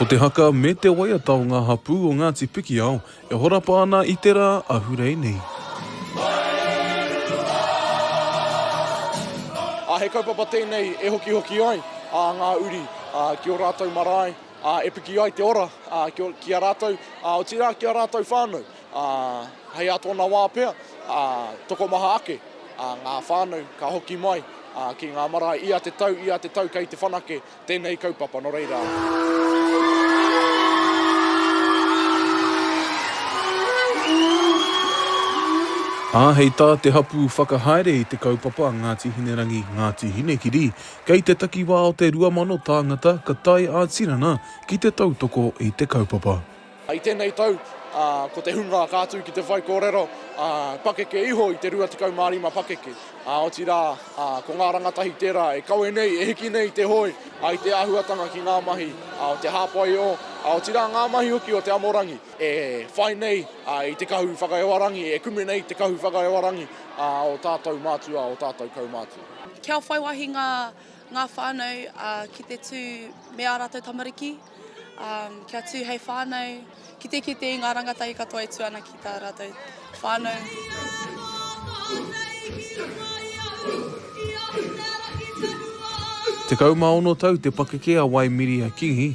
Ko te haka me te waiata o ngā hapū o Ngāti Pikiao e horapa ana i te rā ahurei nei. Ā, he kaupapa tēnei e hokihoki ai ā ngā uri ā ki ō rātou marae ā e piki ai te ora ā ki ō ki a rātou ā otirā ki a rātou whānau. ā, hei ā tōna wā pea, ā, tokomaha ake, ā, ngā whānau ka hoki mai, ā, ki ngā marae ia te tau, ia te tau kei te whanake tēnei kaupapa, nō reira. Ā, hei tā te hapū whakahaere i te kaupapa a Ngāti Hinerangi, Ngāti Hinekiri, kei te takiwā o te 2,000 tāngata ka tae ā-tinana ki te tautoko i te kaupapa. I tēnei tau, ko te hunga ka atu ki te whaikōrero pakeke iho i te 25 pakeke, otirā, ko ngā rangatahi tērā e kawe nei, e hiki nei te hoe i te āhuatanga ki ngā mahi o te hāpaiō, otirā ngā mahi hoki o te amorangi e whai nei i te kahu whakaewarangi, e kume nei te kahu whakaewarangi o tātou mātua, o tātou kaumātua. Kia whai wāhi ngā. Ngā whānau ki te tū me ā rātou tamariki, kia tū hei whānau, ki te kite i ngā rangatahi katoa e tū ana ki tā rātou whānau. Tekau mā ono tau te pakeke a Waimiria Kingi,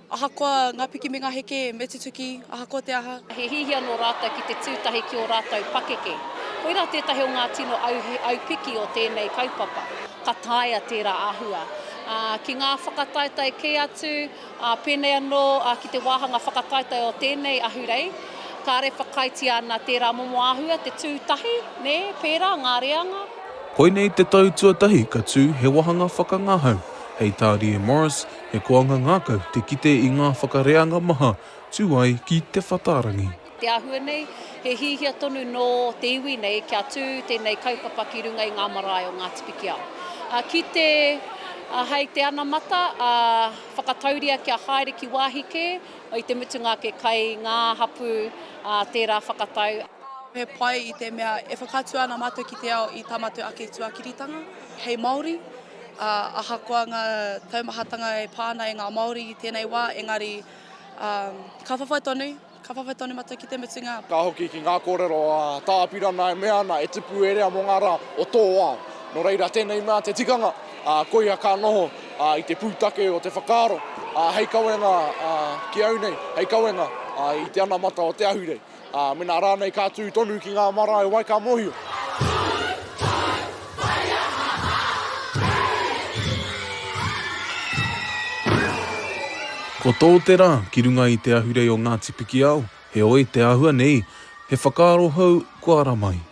Ahakoa ngā piki me ngā heke me tutuki, ahakoa te aha. He hihi anō rātou ki te tū tahi ki ō rātou pakeke. Koirā tētahi o ngā tino aupiki o tēnei kaupapa. Ka taea tērā āhua ki ngā whakataetae kē atu, pēnei anō ki te wāhanga whakataetae o tēnei ahurei. Kāre whakaaetia ana tērā momo āhua te tū tahi, pērā ngā reanga. Koinei te tau tuatahi ka tū he wāhanga whakangahau hei tā Rie Morris He koanga ngākau te kite i ngā whakareanga maha tū ai ki Te Whatarangi. Te āhua nei, he hiahia tonu nō te iwi nei kia tū tēnei kaupapa ki runga i ngā marae o Ngāti Pikiao. Kite hei te anamata, whakatauria kia haere ki wāhi kē, i te mutunga ake kai ngā hapū tērā whakatau. He pai i te mea e whakaatu ana mātou ki te ao i tā mātou ake tuakiritanga hei Māori. ā, ahakoa ngā taumahatanga e pā ana e ngā Māori i tēnei wā, engari, ā, ka whawhai tonu, ka whawhai tonu mātou ki te mutunga. Ka hoki ki ngā kōrero a Tā Apirana e mea ana, e tipu e rea mō ngā rā o tō ao. Nō reira, tēnei mea te tikanga, ā, koia ka noho, ā, i te pūtake o te whakaaro, ā, hei kawenga, ā, ki au nei, hei kawenga, ā, i te anamata o te ahurei. Ā, mēnā rānei ka tū tonu ki ngā marae wai ka mōhio. Ko tō te rā ki runga i te ahurei o Ngāti Pikiao, heoi te āhua nei, he whakaaro hou kua ara mai.